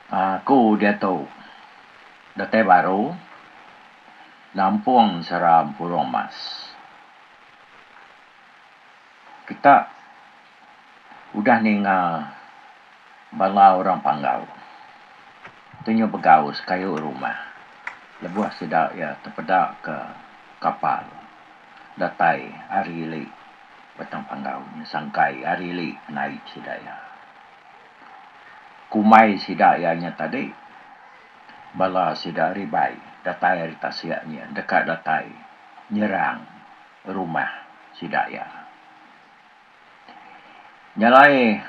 Aku diatu datai baru nampung seram purung mas. Kita udah ninga bala orang panggau tu nyau begau sekayu rumah lebuh sida iya tepeda ke kapal datai ari ili Batang Panggau nya sangkai ari ili naip sida iya. Ku mai sida iya nya tadi, bala sida ari bai datai ari tasik nyin deka datai nyerang rumah sida iya. Nya alai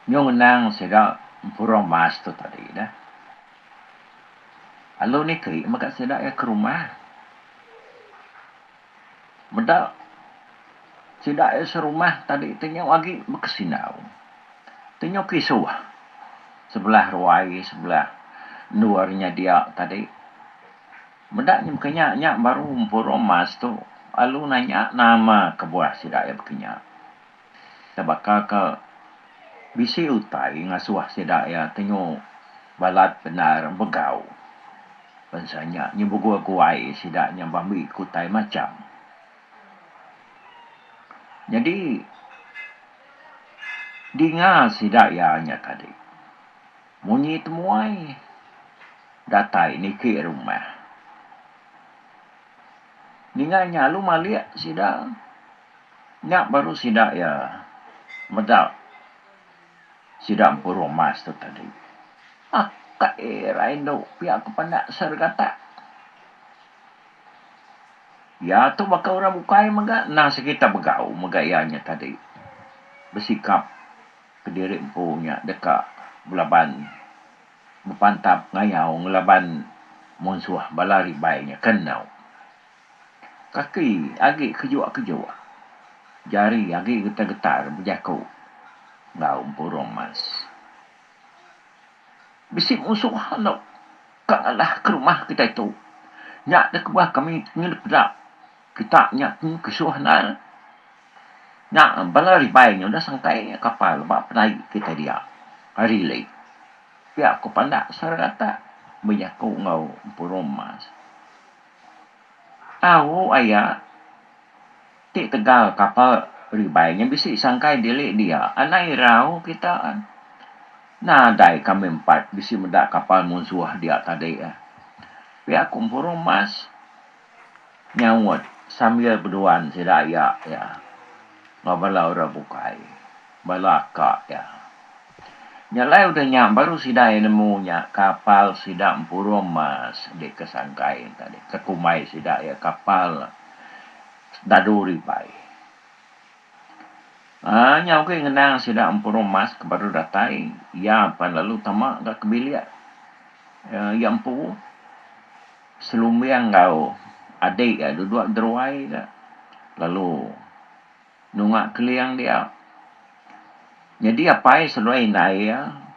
nyung ngenang sida empurung mas tu tadi dah. Lalu niki mega sida iya ke rumah. Meda sida iya serumah tadi ti nyau agi bekesindau. Ti nyau kisuh sebelah ruai sebelah endur nya dia tadi. Meda nya maka nya nya baru empu rumah situ lalu nanya nama kebuah sida iya baka nya. Nya baka ke bisi utai ngasuh sida iya tenyu balat bendar begau. Bansa nya nyebut guai sida nya bambi ke utai macham. Nyadi dinga sida iya nya tadi munyi temuai datai niki rumah ninga nya lalu malik sida Nya baru sida iya meda sida empuru emas tu tadi. Akai ira indu pia ke pandak Sergatak. Iya tu baka orang bukai mega endang sekita begau mega iya nya tadi. Besikap kediri empu nya deka belaban bepantap ngayau ngelaban munsuh bala ribai nya ke endu. Kaki agi kejua-kejua. Jari agi getar-getar bejaku enggau Empu Romas. Bisi musuh enda ka ngalah ke rumah kitai tu. Nya da kebuah kami ngedepda kita nya tun kesuh endar. Nya bala ribai nya udah sangkai kapal ba penai kitai dia ari lei. Pia ku pandak seraratak bejaku enggau Empu Romas. Tau aya ti tegal kapal ribai nya bisi sangkai dili dia anang irau kita nadai kami empat bisi meda kapal munsuh dia tadi pia ku Empuru Mas nyaut sambil beduan sida iya enggau bala orang bukai bala ka iya. Nya lai udah nya baru sida iya nemu nya kapal sida empurum mas di ke sangkai tadi ke kumbai sida iya kapal dadu ribai. Aaa nya ugi ngenang sida empurum mas ke baru datai iya pan lalu tama ga ke bilik iya empu selumbing enggau adik iya dua dua geruai ga lalu nunga keling dia. Nyadi apai seluai indai iya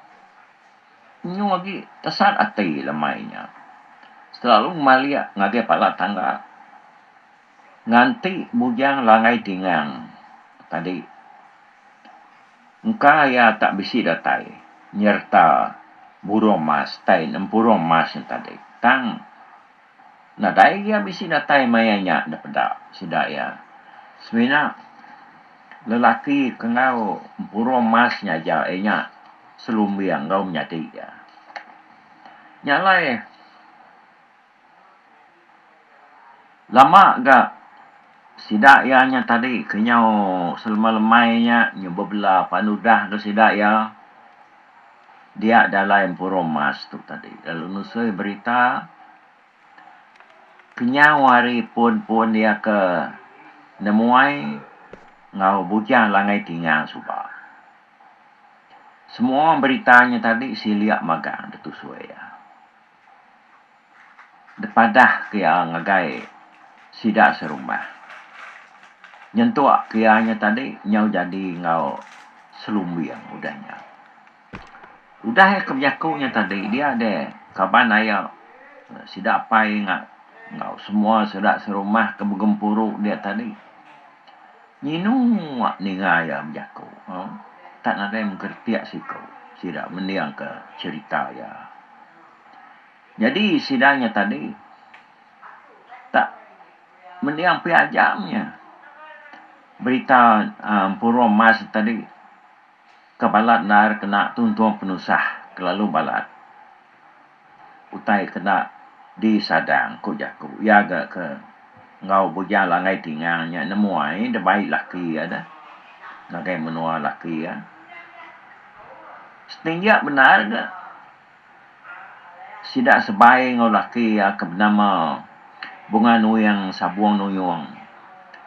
nyu agi tesat ati lemai nya selalu ngemalik ngagai pala tangga nganti bujang langgai tingang tadi engka iya tak bisi datai nyereta burung mas tai nempurung mas nya tadi tang Nadai iya bisi datai maya nya enda peda sida iya. Semina lelaki ke enggau empuru emas nya aja iya nya selumbing enggau menyadi iya. Nya alai lama ga sida iya nya tadi kenyau selemai-lemai nya nyau bebela pan udah ga sida iya. Dia dalai empuru mas tu tadi lalu nusui berita kenyau hari pun-pun dia ke nemuai enggau bujang langgai tingang suba. Semua berita nya tadi silik magang ditusui iya. Depadah ke iya ngagai sida serumah. Nyentuk ke iya nya tadi nyau jadi enggau selumbing udah nya. Udah iya ke bejaku nya tadi dia deh kaban ayo sida pai enggau semua sida serumah ke begempuru dia tadi nyinu awak ninga iya bejaku tak nadai mengkeritik siku sida mendingka cherita iya. Nyadi sida nya tadi tak mending pia aja nya berita a puru emas tadi ke balat endar kena tuntung penusah kelalu balat utai kena disadang ku jaku iya ga ke enggau bujang langgai tinga nya nemu ai debai laki iya deh ngagai menua laki iya. Setingga bendar ga sida sebai enggau laki iya ke benama Bunga Nuing Sabung Nuyung.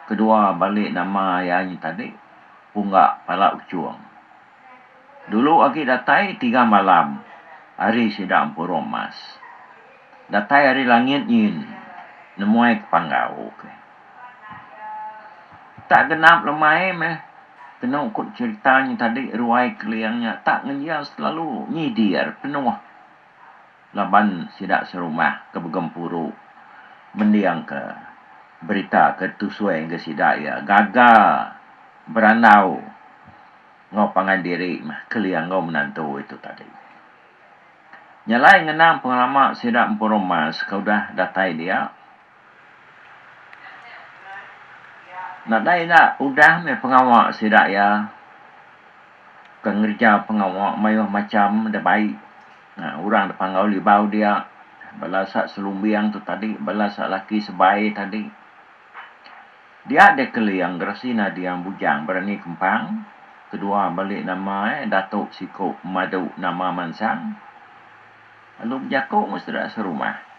Kedua bali nama iya nyi tadi Pungga Pala Uchung. Dulu agi datai tiga malam ari sida empurum mas. Datai ari langit nyin nemuai ke panggau ke. Tak genap lemai meh kenu ku cerita nyin tadi ruai keling nya tak ngenjau selalu nyidir penuh laban sida serumah ke begempuru mending ke berita ke tusui ngagai sida iya gaga berandau enggau pangan diri meh keling enggau menantu itu tadi. Nya alai ngenang pengelama sida Empu Romas ke udah datai dia. Nadai enda udah meh pengawa sida iya ke ngereja pengawa mayuh macham da baik. Orang da panggau libau dia bala sa selumbing tu tadi, bala sa laki sebai tadi. Dia deh Keling geresi nading bujang berani kempang kedua beli nama eh Datuk Siku Madu Nama Mansang lalu bejaku enggau sida serumah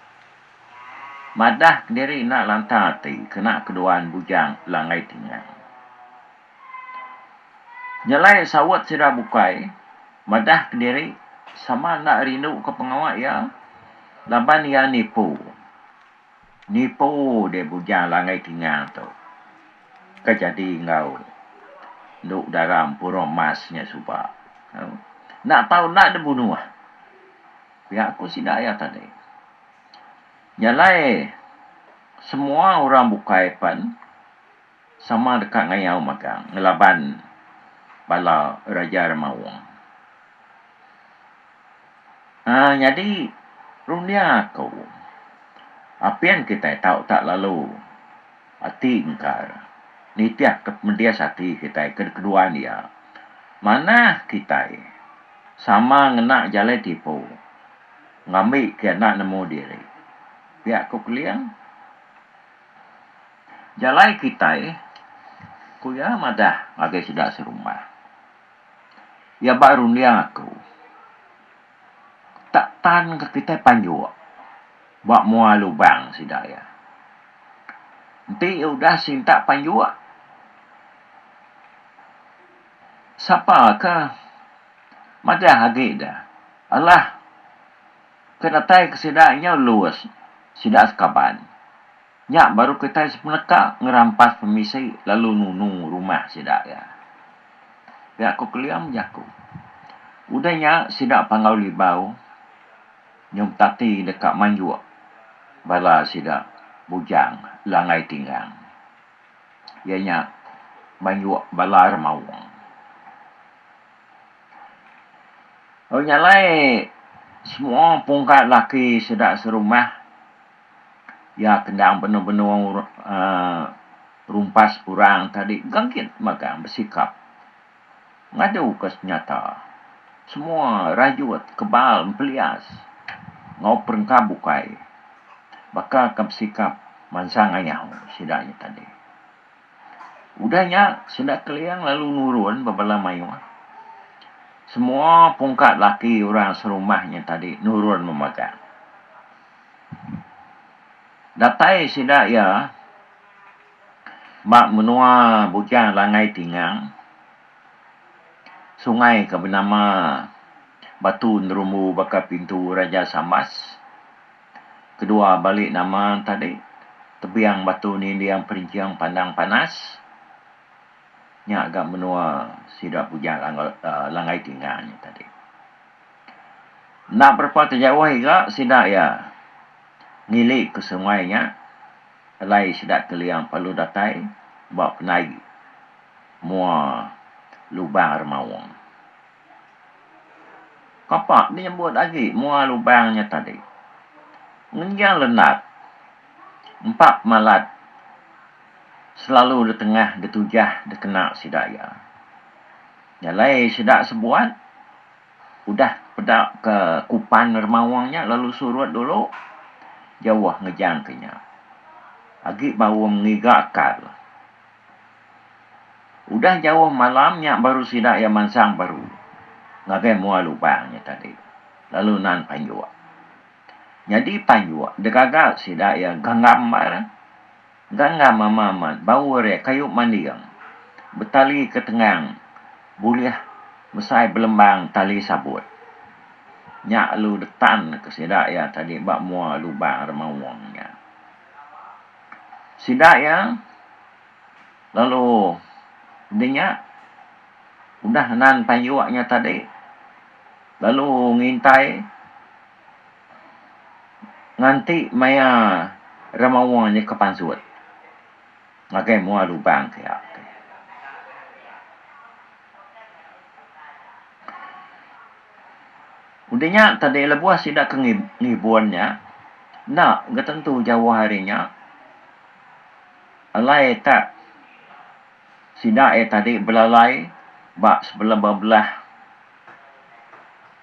madah kediri enda lantang ati kena keduan bujang Langgai Tingang. Nyelai saut sida bukai madah kediri sama enda rinduka pengawa iya laban iya nipu. Nipu deh bujang langit kingal tu ke jadi enggau endu udara empuru emas nya suba. Enda tau enda deh bunuh. Pia ku sida iya tadi. Nya alai semua orang bukai pen. sama deka ngayau magang ngelaban bala raja remaung. Aa nyadi runding aku, apin kitai tau tak lalu ati engkar nitihka pemedis ati kitai ke kedua dia manah kitai sama ngena jalai tipu ngambi ke anak nemu diri. Pia ku Keling. Jalai kitai, ku iya madah ngagai sida serumah. Iya ba runding aku, tak tan ka kitai panjuk ba mua lubang sida iya. Enti iya udah sintak panjuk, sapa ka madah agi da alah. Ke datai ke sida nyau Louis, sida sekaban nya baru kitai sepeneka ngerampas pemisi lalu nunu rumah sida iya. Pia ku Kelia bejaku. Udah nya sida panggau Libau nyau betati deka manjuk bala sida Bujang Langai Tinggang iya nya manjuk bala Remaung. Lalu nya alai semua pungkai lelaki sida serumah iya ke endang benung-benung rumpas orang tadi engka gin magang besikap ngaduka senyata semua rayut kebal empelias enggau perengka bukai baka ke besikap mansang ayau sida nya tadi. Udah nya, sida Keliang lalu nurun ba bala mayuh. Semua pungka laki orang serumah nya tadi nurun memagang. Datai sida iya ba menua Bujang Langai Tingang, sungai ke benama Batu Nerumbu baka pintu Raja Sambas. Kedua balik nama tadi tebiang batu ninding perinching pandang panas nya gak menua sida Bujang Langgai Tinga nya tadi. Enda berapa ke jauh iga sida iya ngili ke sungai nya alai sida keling palu datai ba penai mua lubang remaung. Kapa menyebut agi mua lubang nya tadi. Ngenjang lenat, empa pemalat selalu ditengah ditujah dikena sida iya. Nya alai sida sebuat udah peda ke kupan remaung nya lalu surut dulu jauh ngejang ke nya. Agi baum ngiga kal. Udah jauh malam nya baru sida iya mansang baru ngagai mua lubang nya tadi lalu nan panjuk. Nyadi panjuk degaga sida iya ganggam baar, ganggam amat amat baur iya kayu manding betali ke tengang bulih mesai belembang tali sabut. Nya lalu detan ke sida iya tadi ba mua lubang remaung nya. Sida iya. Lalu udah nya udah nan payuk nya tadi lalu ngintai nganti maya remawa nya ke pansut ngagai mua lubang pia tu. Udah nya tadi lebuh sida ke ngibun nya enda ga tentu jauh ari nya. Alai tak sida iya tadi belalai ba sebelum bebelah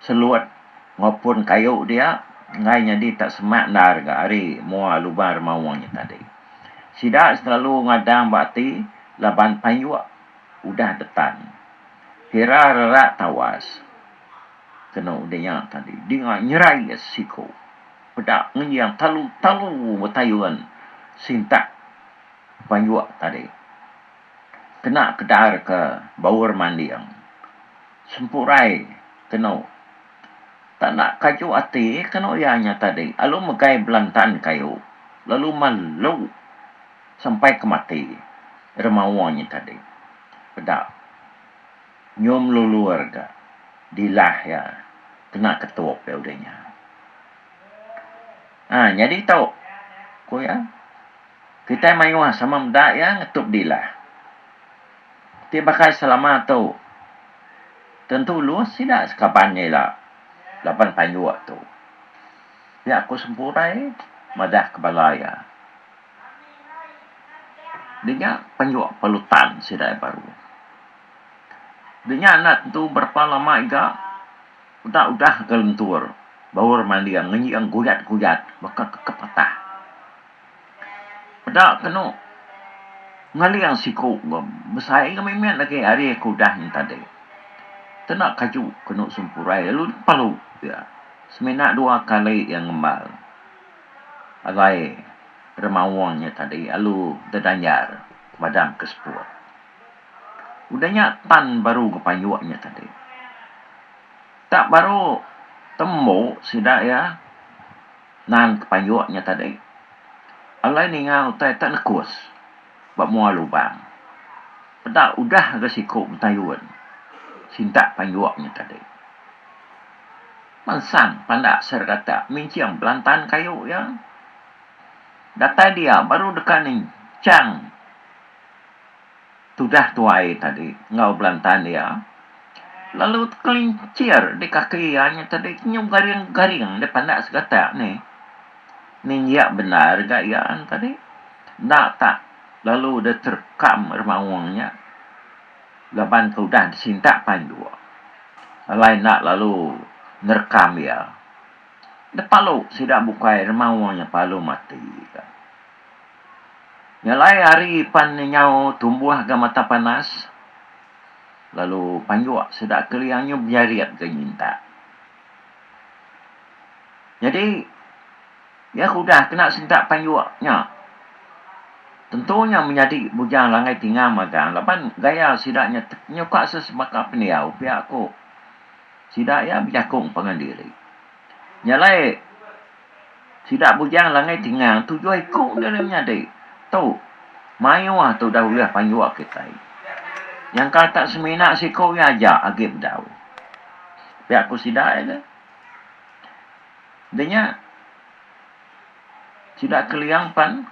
selut maupun kayu dia enggai nyadi tak semak endar ga ari mua lubang remaung nya tadi. Sida selalu ngadang ba ati laban payuk udah detan kira rerak tawas kena udah nya tadi dinga nyerai siku. peda ngenyiang talu talu betayun sintak panjuk tadi kena kedar ke baur manding sempurai kenu tanda kaju ati kenu iya nya tadi alu megai belantan kayu lalu malu sampai ke mati remaung nya tadi peda. Nyum lulur ga dilah iya kena ketup iya udah nya. Ha nyadi tu ku iya kitai mayuh sama meda iya ngetup dilah. Ti baka selama tu tentu ulih sida sekaban iya ila laban panjuk tu. Pia ku sempurai madah ke bala iya. Di nya panjuk perlu tan sida iya baru. Di nya anak tu berapa lama iga udah udah ke lentur baur manding ngeji iya guyat guyat baka ke patah peda kenu ngeling siku besai ngan mit mit lagi ari ke udah nya tadi kena kaju kenu sempurai lalu pelu iya semina dua kali iya ngembal alai remaung nya tadi lalu dedanjar madam ke seput. Udah nya tan baru gepayuk nya tadi. Tak baru tembu sida iya nan kepayuk nya tadi. Alai ninga utai tak nekus ba mua lubang. Peda udah ga siku betayun sintak payuk nya tadi. Mensang pandak serigata minching belantan kayu iya. Datai dia baru deka ninchang. tudah tuai tadi enggau belantan iya lalu tekelincir di kaki iya nya tadi nyu garing-garing deh pandak segatak nih ninjak bendar ga iya nya tadi enda tak lalu deh terekam remaung nya laban ke udah disintak pai endu alai enda lalu nerekam iya deh palu sida bukai remaung nya palu mati. Nya alai ari pan nyau tumbuh ga mata panas lalu panjuk sida kelia nyu bejarit ga nyintak. Nyadi iya ke udah kena sentak panjuk nya tentu nya menyadi bujang langgai tinga magang laban gaya sida nya nyukaka sebaka pendiau pia ku sida iya bejakung pangan diri. Nya alai sida bujang Langai Tingang tujuh iku dia ulih menyadi. Tu mayuh tu dah ulih panyuwa kitai. Nyangka ka semina siku iya aja agi bedau. Pia ku sida iya dah. Dah nya sida Keliang pan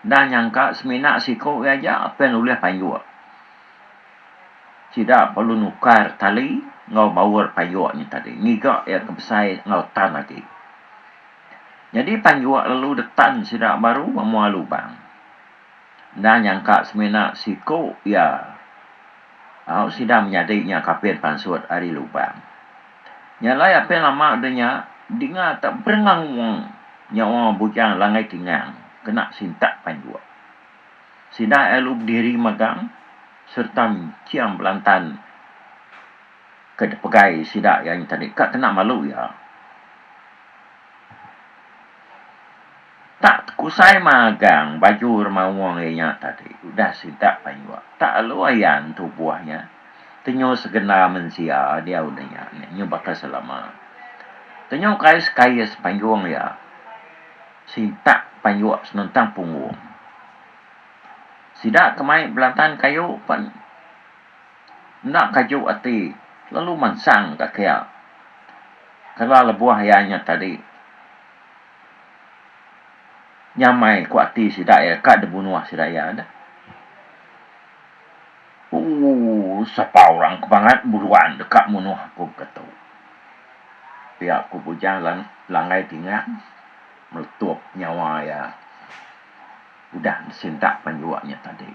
enda nyangka semina siku iya aja pen ulih panyuwa. Sida perlu nukar tali enggau baur payuk nya tadi ngiga iya ke besai enggau tan agi. Nyadi payuk lalu detan sida baru memuah lubang. Enda nyangka semina siku iya au sida menyadi nya ke apin pansut ari lubang. Nya alai apin lama udah nya dinga teberengung nyawa bujang Langaitingang kena sintak payuk. Sida lalu bediri magang sereta enching belantan ke dipegai sida iya nya tadi ka kena malu iya. Tak tekusai magang baju remaung iya nya tadi udah sida payuh tak lalu ayan tubuh iya tenyau segena mensia diau udah iya nya nyau baka selama. Tenyau kais-kais panggung iya. sitak payuk senentang punggung. Sida ke mai belantan kayu pen enda kaju ati lalu mansang ka kia kala lebuh iya nyat tadi nyamai ku ati sida iya ka dibunuh sida iya deh. Ooh sapa orang ke mangat buruan deka munuh aku ke tu. Pia ku Bujang langgai tingang meletup nyawa iya udah disintak penjua nya tadi.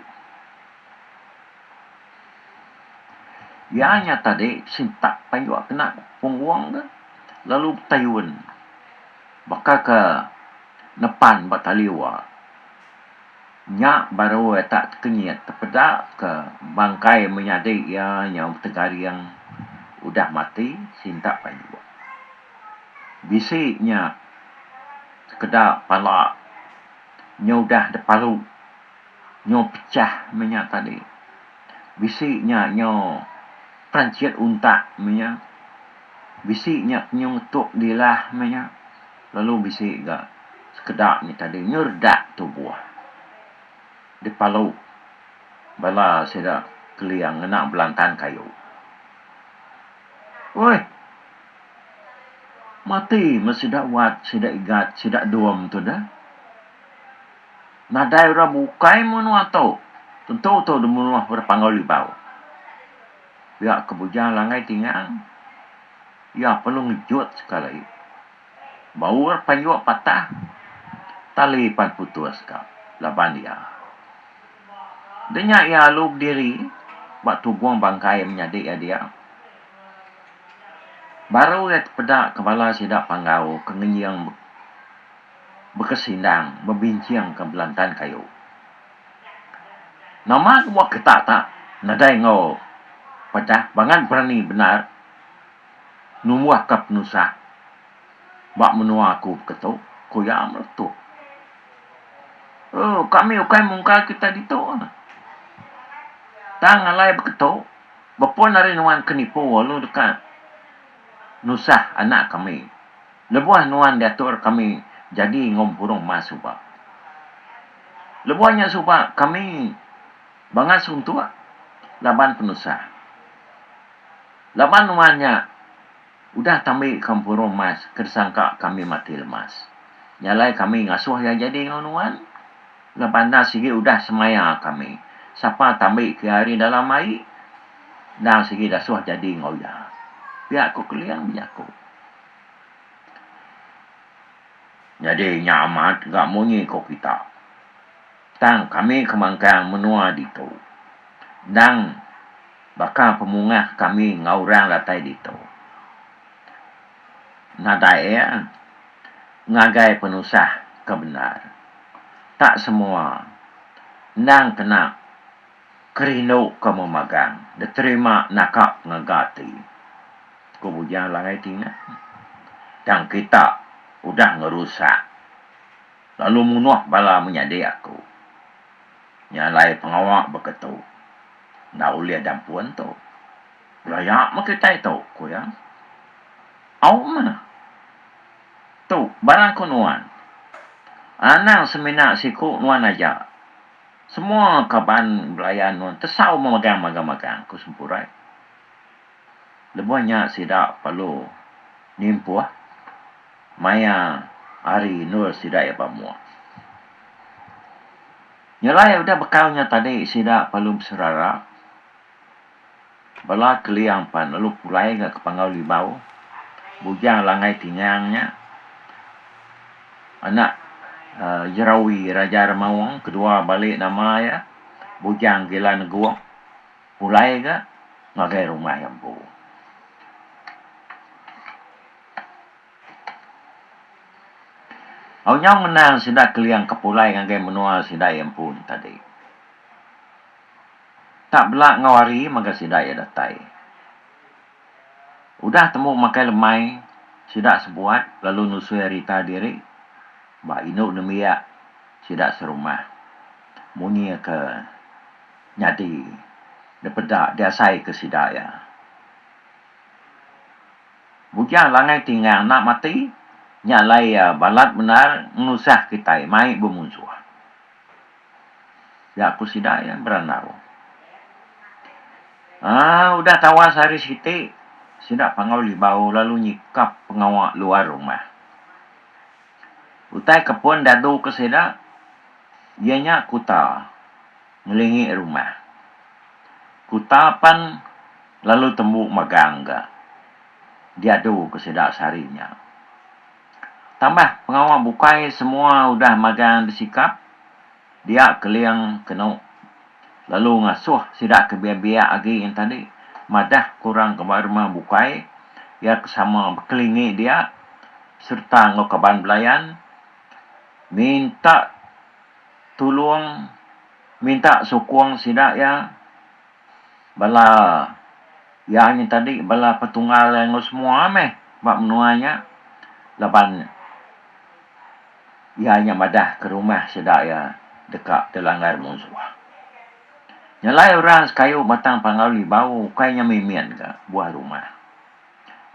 Iya nya tadi disintak penjua kena punggung ke lalu betayun baka ke nepan ba taliu a. Nya baru iya tak tekenyit tepeda ke bangkai menyadi iya nyau betegaring udah mati sinta panyuk. Bisi nya sekeda pala nyau udah depalu, nyau pechah meh nya tadi. Bisi nya nyau peranchit untak meh nya. Bisi nya kenyau ngetuk dilah meh nya. lalu bisi ga sekeda nya tadi nyeredak tubuh dipalu bala sida Keling ngena belantan kayu. Uih mati meh sida wat sida igat sida dum tu deh. Nadai orang bukai menua tu tentu tu dimunuh orang Panggau Libau. Pia ke bujang langgai tingang. Iya perlu ngejut sekali. Baur payuk patah, tali pan putus ka laban iya. Enda nya iya alu bediri ba tugung bangkai menyadi iya dia. Baru iya tepeda ke bala sida panggau ke ngenying bekesindang bebincingka belantan kayu. Nama ke mua ketak tak nadai enggau pedah bangan berani bendar numbuh ka penusah ba menua aku beketu ku iya meletup. Ooh kami ukai mungkar kita ditu tang alai beketu bepun ari nuan ke nipu lalu deka nusah anak kami lebuh nuan diatur kami jadi enggau mempurung emas suba. Lebuh nya suba kami bangat suntuk laban penusah. Laban nuan nya udah tambika empuru emas ke disangka kami mati lemas. Nya alai kami ngasuh iya jadi enggau nuan laban enda sigi udah semaya kami. Sapa tambika iya ari dalam ai endang sigi dasuh jadi enggau iya, pia ku Keling bejaku. Nyadi nya amat ga munyi ko kita. Tang kami ke mangkang menua ditu. Endang baka pemungah kami enggau orang datai ditu. Nadai iya ngagai penusah ke bendar. Tak semua endang kena. Ke rindu ke memagang. Diterima naka ngaga ati. Ku Bujang Langai Tingan. Tang kita udah ngerusak lalu munuh bala menyadi aku. Nya alai pengawa baka tu enda ulih dampun tu. Belaya meh kitai tu, ku iya. Au meh. Tu barang ku nuan. Anang semina siku nuan aja. Semua kaban belaya nuan tesau memegang magang-magang, ku Sempurai. Lebuh nya sida perlu nimpuh maya ari endur sida iya ba mua. Nyelai udah bekau nya tadi sida perlu beserara. Bala Keliang pan lalu pulai ga ke Panggau Libau, Bujang Langai Tingang nya anak Jerawi Raja Remaung kedua bali nama iya Bujang Gila Negong pulai ga ngagai rumah iya empu. Au nyau ngenang sida Keliang ke pulai ngagai menua sida iya empu nya tadi. Tak bela enggau hari mega sida iya datai. Udah temu makai lemai sida sebuat lalu nusui arita diri ba indu nembiak sida serumah. Munyi ke nyadi dipeda diasai ke sida iya. Bujang langai tinggang enda mati nya alai iya balat bendar ngenusah kitai mai bemunsuh. Nya ku sida iya berandau. Aa udah tawas ari siti, sida pangau libau lalu nyikap pengawa luar rumah. Utai ke pun dadu ke sida iya nya kuta ngelingi rumah. Kuta pan lalu tembu magang ga diadu ke sida sehari nya. Tambah pengawa bukai semua udah magang disikap dia Keling kenu lalu ngasuh sida ke biak-biak agi yen tadi madah ke orang ke ba rumah bukai iya ke sama bekelingi dia sereta enggau kaban belayan minta tulung minta sukung sida iya Bala iya nya tadi bala petunggal iya enggau semua meh ba menua nya laban iya nya madah ke rumah sida iya deka dilanggar munsuh. Nyelai orang sekayu batang Panggau Libau ukai nya mimin ka buah rumah.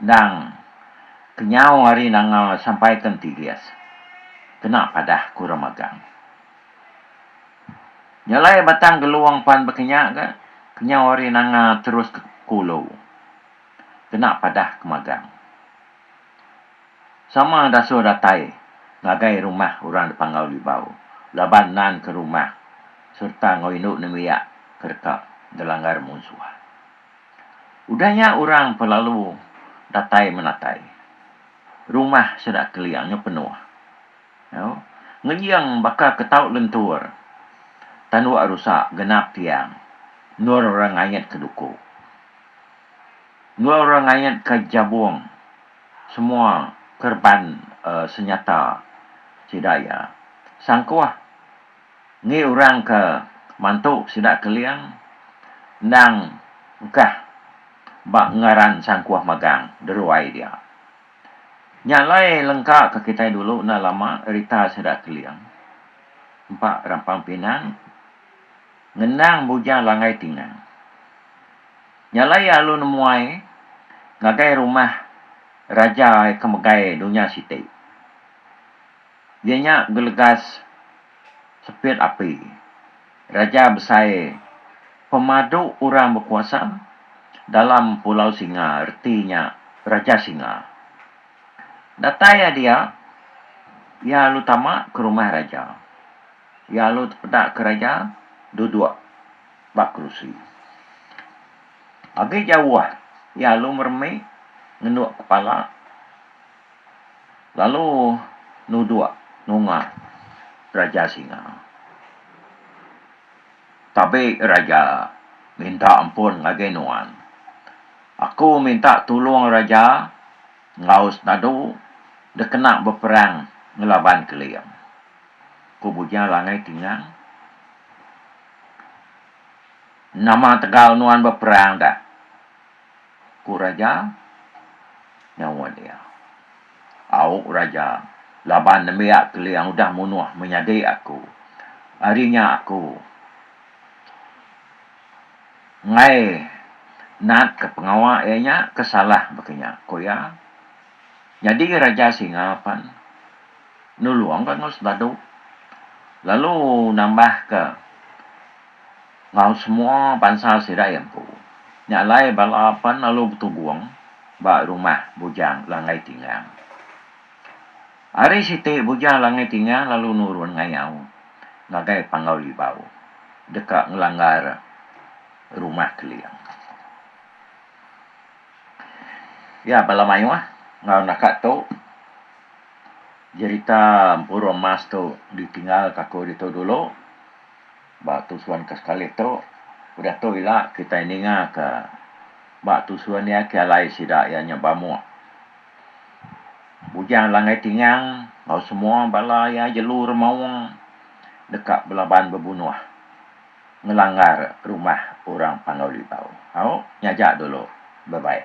Endang kenyau ari nanga sampai ke entigis kena padah ke orang magang. Jalai batang Gelong pan bekenya ga kenyau ari Nanga terus ke Kulu kena padah ke magang. Sama dasuh datai ngagai rumah orang Depangau Libau laban nan ke rumah sereta enggau indu nembiak ke deka gelanggar munsuh. Udah nya orang pun lalu datai menatai. Rumah sida kelia nya penuh. Ngejing baka ke tau lentur. Tanduk rusa genap tiang. Endur orang ngait ke duku. Endur orang ngait ke jabung. Semua kerban senyata sida iya. Sangkuh engi orang ke mantu sida keling endang engkah ba ngaran sangkuh magang deruai dia. Nya alai lengka ka kitai dulu enda lama rita sida keling empa rampang pinang ngenang bujang langgai tingang. Nya alai iya lalu nemuai ngagai rumah raja ke megai dunya siti. Iya nya gelegas sepit api. Raja besai pemadu orang bekuasa dalam Pulau Singa reti nya Raja Singa. Datai iya dia, iya lalu tama ke rumah raja. Iya lalu tepeda ke raja duduk ba kerusi. Agi jauh iya lalu meremi ngenduk kepala. lalu nuduk nunga Raja Singa. Tabi Raja minta ampun ngagai nuan. Aku minta tulung Raja enggau senadu dikena beperang ngelaban Keling, ku Bujang Langai Tingang. Nama tegal nuan beperang dak? ku raja nyawa dia. Au raja, laban nembiak Keling udah munuh menyadi aku, ari nya aku enggai natka pengawa iya nya ke salah baka nya, ku iya. Nyadi Raja Singa pan nulungka enggau sendadu lalu nambahka. enggau semua bansa sida iya empu. Nya alai bala pen lalu betugung ba rumah Bujang Langai Tingang. Ari siti Bujang Langai Tingang lalu nurun ngayau ngagai Panggau Libau deka ngelanggar Rumah Keling. Iya bala mayuh enggau enda ka tu jerita Empuru Emas tu ditinggal ka aku ditu dulu. Ba tusun ke sekali tu, udah tu ila kitai ninga ke ba tusun iya ke alai sida iya nya bamuk. Bujang langgai tingang enggau semua bala iya jelu remaung deka belaban bebunuh ngelanggar rumah orang Panggau Libau. Au, nya aja dulu. Bye bye.